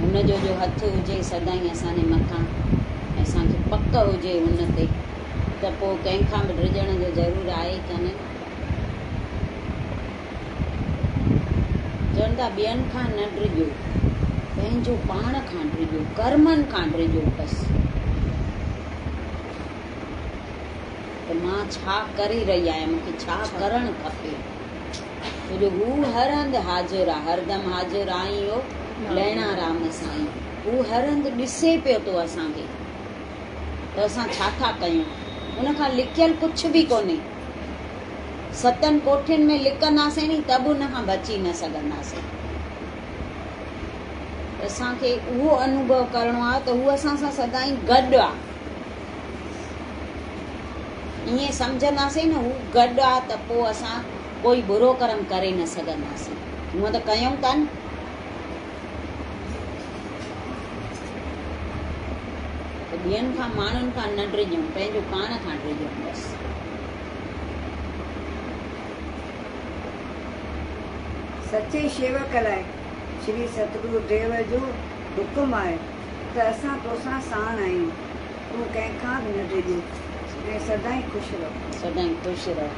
هن جو جو هٿ هجي سدائين اسان جي مٿان ۽ اسان کي پڪ هجي ان تي ته پوء ڪنهن کان به ڊڄڻ جو ضرور آهي ئي ڪونه. چون ٿا ٻين کان نه ڊڄو، پنهنجو پاڻ کان ڊڄو، ڪرمن کان ڊڄو بس ته مان ڇا ڪري رهي آهيان، مون کي ڇا ڪرڻ کپي. جو هو هر هنڌ حاضر آ، هر دم حاضر آ ۽ اهو لهڻا رام سائين، هو هر هنڌ ڏسي پيو ٿو اسان کي ته اسان ڇا ٿا ڪيون، ان کان لڪيل ڪڇ به ڪونهي، ستن ڪوٺين ۾ لڪنداسين ني ته به ان کان بچي نه سگهنداسين، اسان کي اهو انوڀو ڪرڻو آ ته هو اسان سان سدائين گڏ آ. ائين سمجهنداسين نه هو گڏ آ ته پوء اسان ڪوئي برو ڪرم ڪري نه سگهنداسين. هونء ته ڪيون ٿا نه. ته ٻين کان ماڻهن کان نه ڊڄون، پنهنجو پاڻ کان ڊڄون بس. سچي شيوڪ لاء شري ستگرو ديو جو حڪم آهي ته اسان توسان ساڻ آهيون. تون ڪنهن کان به نه ڊڄ ۽ سدائين خوش رهه. سدائين خوش رهه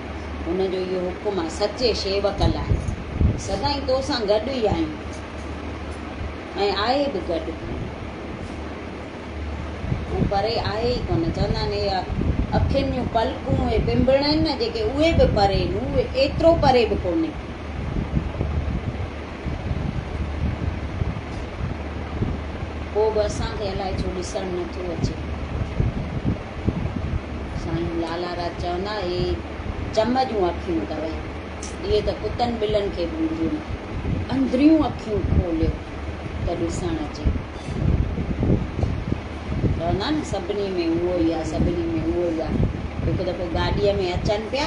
هن جو اهو حڪم آهي سچي شيوڪ لاء. سدائين تو سان گڏ ئي آهيون ۽ آهي به گڏ. هو پري آهي ئي ڪونه. چوندا آهن اهي اکين جون پلڪون اهي پنبڻ آهن نه جيڪي اهي به پري نون اهي ايترو پري به ڪونهي. پوء به اسان کي الائي ڇو ڏسڻ نه ٿو اچي. سائين لالا راج چوندا اهي چم جون اکيون اٿو اهي ته ڪتن ٻلن کي به اينديون نه. اندريون اکيون کوليو ته ڏسڻ اچي. چوندا نه سڀني ۾ اهو ئي آهي سڀني ۾ اهو ئي آهي. هڪ دفعو گاڏيء ۾ اچن پيا.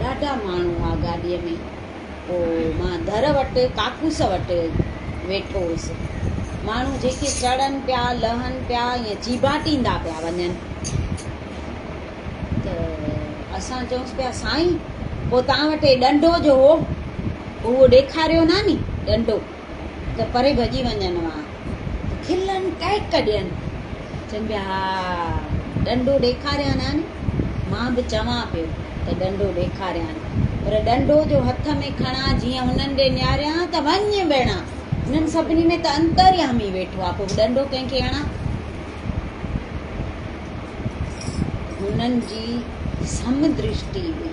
ڏاڍا ماڻهو هئا گاڏيء ۾. پوء مان در وٽ ڪاڪوس وٽ ويٺو هوس. ماڻهو جيڪي چڙهن پيا، لهن پيا ۽ چيڀاٽيندا پيا وڃن ته اسان چئونس پيا، سائين! پوء توهان وٽ هي ڏنڊو جو هو، اهو ڏيکاريو ناني ڏنڊو. ته پري ڀڄي وڃن وا ته کلن ڪهڪ ڏين، چون پيا ها ڏنڊو ڏيکاريان ها ني، مان به چوان پيو ته ڏنڊو ڏيکاريان، پر ڏنڊو جو هٿ ۾ کڻان جيئن انهن ڏي نهاريان ته وڃ ٻيڻا، انهن سڀني ۾ ته انتريامي ويٺو آ، پوء ڏنڊو ڪنهن کي هڻان؟ هنن جي سم درشٽي هئي.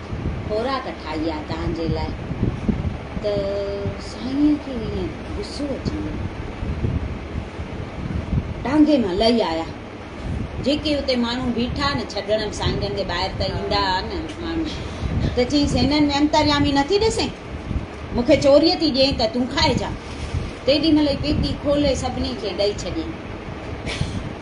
خوراڪ ٺاهي آ تنهنجي لاء. ته سائينء کي ايئن غصو اچي ويو. ٽانگي مان لهي آيا. جيڪي اتي ماڻهو بيٺا نه ڇڏڻ به سائين جن جي ٻاهر ته ايندا ها نه ماڻهو. ته چيس هنن ۾ انتريامي نه ٿي ڏسين. مون کي چوريء ٿي ڏيئين ته تون کائجان. تيڏي مهل ئي پيتي کولي سڀني کي ڏئي ڇڏيائين.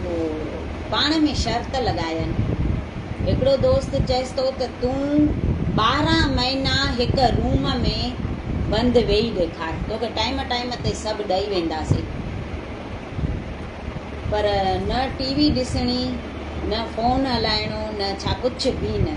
هو پاڻ ۾ شرط لڳاين. هڪڙو دوست چيس ٿو ته تون ٻارهن مهينا هڪ روم ۾ بند ويهي ڏيکار، توکي ٽائيم ٽائيم تي سڀ ڏئي وينداسين. پر نه ٽي وي ڏسڻي، نه فون هلائڻو، نه ڇا ڪجهه به نه.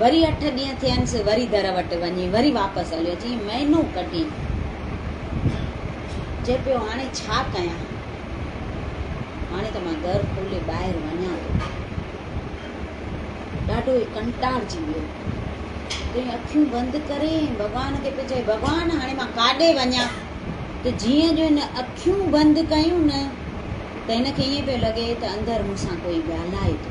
وري اٺ ڏينهن ٿينس، وري در وٽ وڃي، وري واپس هليو اچي مهينو ڪڍي. چئي پيو هاڻي ڇا ڪيان؟ هاڻي ته مان در کولي ٻاهر وڃان ٿو. ڏاڍو ئي ڪنٽارجي ويو. تئين اکيون بند ڪري ڀڳوان کي پيو چئي ڀڳوان هاڻي مان ڪاڏي وڃان؟ ته جيئن جو هن اکيون بند ڪيون نه ته هن کي ائين پيو لڳي ته اندر مون سان ڪوئي ڳالهائي ٿو.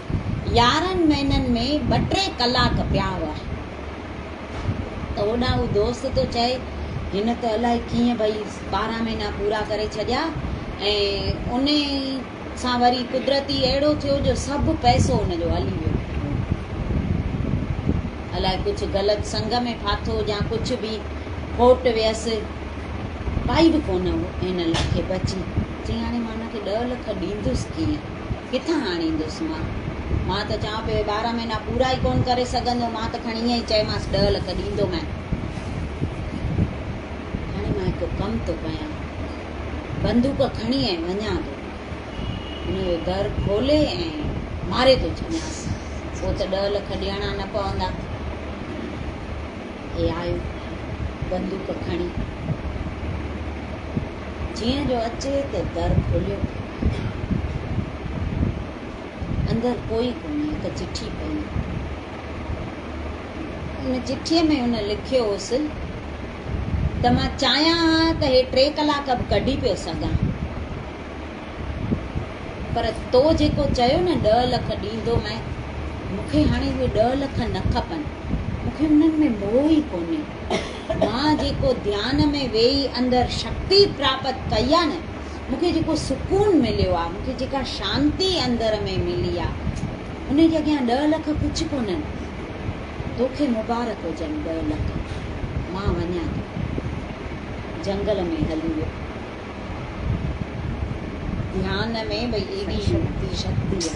يارهن مهينن ۾ ٻه ٽي ڪلاڪ پيا هئا ته هوڏانهن هو دوست ٿو چئي، هن ته الائي ڪيئن ڀئي ٻارهن مهينا پورا ڪري ڇڏيا ۽ انهي سان وري قدرتي اهڙو ٿيو جو سڀ پئسو هن جو هلي ويو. الائي ڪجهه غلط سنگ ۾ ڦاٿو يا ڪجهه به کوٽ ويس، ڪائي به ڪونه هن لک کي بچي. چئي هاڻي مان هن کي ڏهه لک ڏيندس ڪيئن؟ ڪٿان آڻيندس مان؟ مان ته چوان پيو اهي ٻارهن مهينا پورا ئي ڪونه ڪري سگهندو. مان ته کڻي ائين ئي چيمانس ڏهه لک ڏيندومانء. هاڻي مان هڪ ڪم ٿو ڪيان. بندوق کڻي ۽ وڃان ٿو. هن جو در کولي ۽ ماري ٿو ڇڏيانس. پوء ته ڏهه لک ڏيڻا نه پوندا. هي آيو بندوق کڻي. جيئن جو اچي ته در کوليو پيو وڃي. اندر ڪوئي ڪونهي، هڪ چٺي پئي هئي. ان چٺيء ۾ هن لکيو هوس ته مان چاهيان ها ته هي ٽي ڪلاڪ به ڪڍي پيو سگهان، پر تو جيڪو چيو نه ڏهه لک ڏيندومئي، مون کي هاڻي اهي ڏهه لک نه کپن، مون کي انهن ۾ موهه ئي ڪونهي. مان جيڪو ڌيان ۾ ويهي اندر شڪتي پراپت ڪئي آ نه، مون کي جيڪو سڪون مليو آ، مون کي جيڪا شانتي اندر ۾ ملي آ، ان جي اڳيان ڏهه لک ڪجهه ڪونهن. توکي مبارڪ هجن ڏهه لک. مان وڃان ٿو. جهنگل ۾ هلي ويو. ڌيان ۾ ٻئي شڪتي شڪتي آ.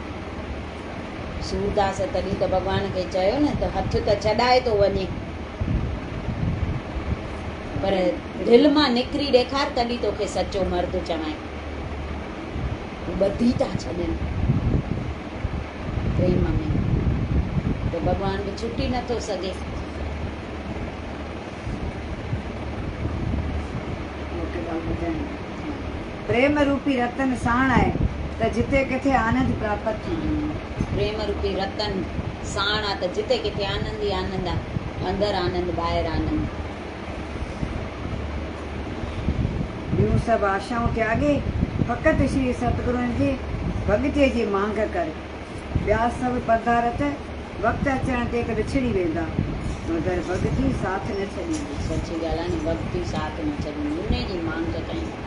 سورداس تڏهن ته ڀڳوان کي چيو نه ته هٿ ته ڇڏائي ٿو وڃي پر دل مان نڪري ڏيکار تڏهن توکي سچو مرد چوائين ٻڌي ٿا ڇڏن پريم ۾ ته ڀڳوان به ڇٽي نٿو سگهي پريم روپي رتن ساڻ آء ته جتي ڪٿي آنند پراپت ٿيندو آ. پريم روپي رتن ساڻ آ ته جتي ڪٿي آنند ئي آنند آ. اندر آنند ٻاهر آنند. ٻيون سڀ آشائون تياڳي فقط شري ستگرون جي ڀڳتي جي مانگ ڪر. ٻيا سڀ پڌارٿ وقت اچڻ تي ته وڇڙي ويندا مگر ڀڳتي ساٿ نه ڇڏيندي. سچي ڳالهه آ ني ڀڳتي ساٿ نه ڇڏيندي انهي جي مانگ ڪيائين.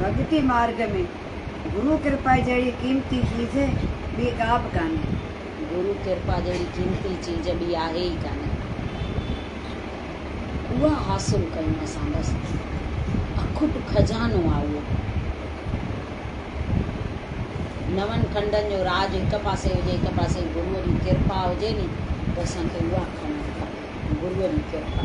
ڀڳتي مارگ ۾ گرو ڪرپا جهڙي قيمتي چيز ٻي ڪا به ڪانهي. گرو ڪرپا جهڙي قيمتي چيز ٻي آهي ئي ڪانهي. اها حاصل ڪيون اسان بس. اکٽ خزانو آ اهو. نون کنڊن جو راڄ هڪ پاسي هجي هڪ پاسي گرو جي ڪرپا هجي ني ته اسان کي اها کڻڻ کپي. گرو جي ڪرپا.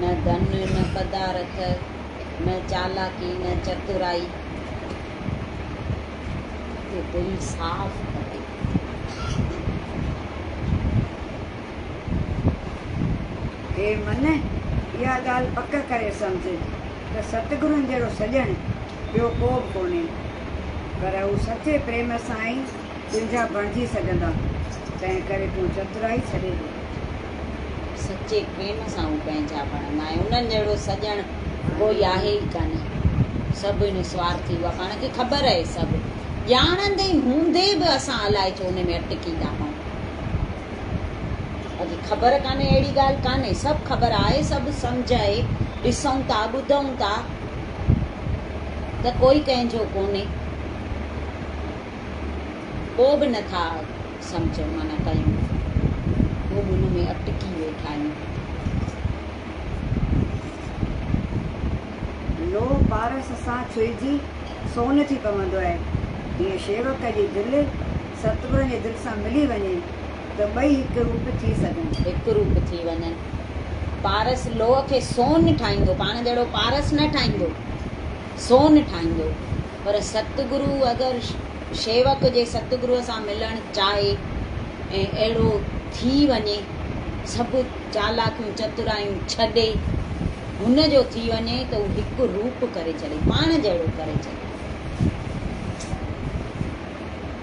نه ڌن نه پدارٿ، نه چالاڪي نه چترائي، ته دل صاف ڪري. اي من! اها ڳالهه پڪ ڪري سمجهه ته ستگرن جهڙو سڄڻ ٻيو ڪو به ڪونهي، پر هو سچي پريم سان ئي تنهنجا بڻجي سگهندا، تنهن ڪري تون چترائي ڇڏي ٿو ڪري. سچي پريم سان هو پنهنجا بڻندا ۽ انهن جهڙو سڄڻ ڪوئي آهي ئي ڪانه. سڀ هن سوارٿي اها پاڻ کي خبر آهي سڀ ڄاڻندي هوندي به اسان الائي ڇو ان ۾ اٽڪي ٿا پئون. باقي خبر ڪانهي اهڙي ڳالهه ڪانهي سڀ خبر آهي سڀ سمجهه آهي ڏسون ٿا ٻڌون ٿا ته ڪوئي ڪنهن جو ڪونهي. پوء به نه ٿا سمجهن معنيٰ ڪيون پوء به ان ۾ اٽڪي ويٺا آهيون. لوهه پارس سان ڇهجي سون ٿي پوندو آهي، جيئن شيوڪ جي دل ستگرن جي دل سان ملي وڃي ته ٻئي هڪ روپ ٿي سگهن. هڪ روپ ٿي وڃن. پارس لوهه کي سون ٺاهيندو، پاڻ جهڙو پارس نه ٺاهيندو، سون ٺاهيندو. پر ستگرو اگر شيوڪ جي ستگروء سان ملڻ چاهي ۽ اهڙو ٿي وڃي، سڀ چالاڪيون چترايون ڇڏي، هن جو ٿي وڃي ته هو هڪ روپ ڪري ڇڏي، پاڻ جهڙو ڪري ڇڏي.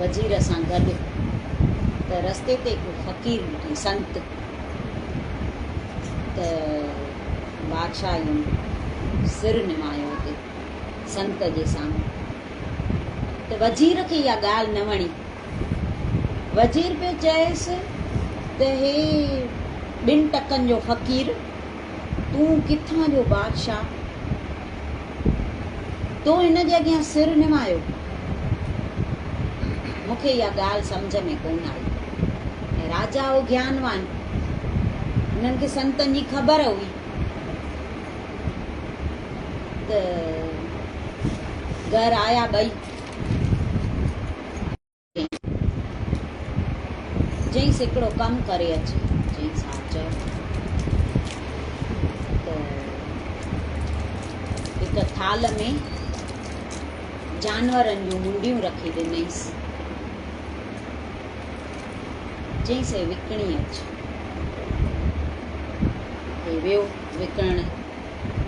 وزير سان گڏ ته رستي تي ڪو فقير ڏٺئي، سنت، ته بادشاهه ين سر نمايو اتي سنت جي سامهون ته وزير کي اها ڳالهه نه وڻي. وزير پيو چئيس ته هي ٻن ٽڪن جو فقير. تون ڪٿان جو بادشاهه؟ تو هن جي اڳيان سر نوايو؟ مون کي اها ڳالهه سمجهه ۾ ڪونه آئي ۽ راجا هو گيانوان، هنن کي سنتن جي خبر هئي ته گهر آيا ٻئي. چيائينس هڪڙو ڪم ڪري اچ. چيائينس ها چئو ته هڪ ٿالهه ۾ جانورن جون منڊيون رکي ڏنئيس. چيائينس هي وڪڻي اچ. هي ويو وڪڻڻ.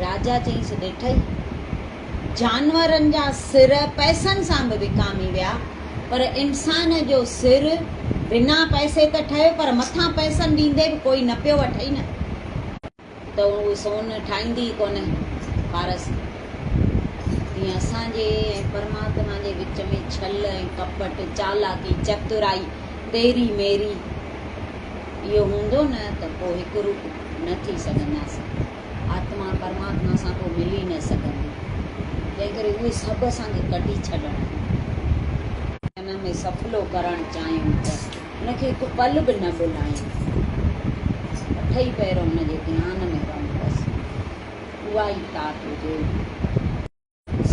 راجا چيس ڏٺئي، جانورن جا سر پئسن سان به وڪامي ويا، پر انسان جو سر بنا پئسي ته ٺهيو پر مٿان پئسن ڏيندي به ڪوئي نه پيو وٺئي نه ته هو سون ٺاهيندي ئي ڪونه پارس ۾. تيئن اسان جي ۽ پرماتما جي وچ ۾ ڇل ۽ ڪپٽ، چالاڪي، چترائي، تيري ميري اهو هوندو نه ته پوء هڪ روپ نه ٿي سگهنداسين. آتما پرماتما سان ڪو ملي نه سگهندي. تنهن ڪري اهي سڀ اسان کي ڪڍي ڇڏڻا آهن. ڪن ۾ سڦلو ڪرڻ چاهيون ته ان کي هڪ پل به نه ڀلائين. اٺئي پهر ان جي ڌيان ۾ رهون بس. اها ئي تات هجي.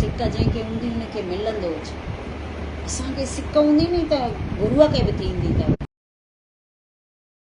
سڪ جنهن کي هوندي ان کي ملندو اچي. اسان کي سڪ هوندي ني ته گروء کي به ٿيندي ته.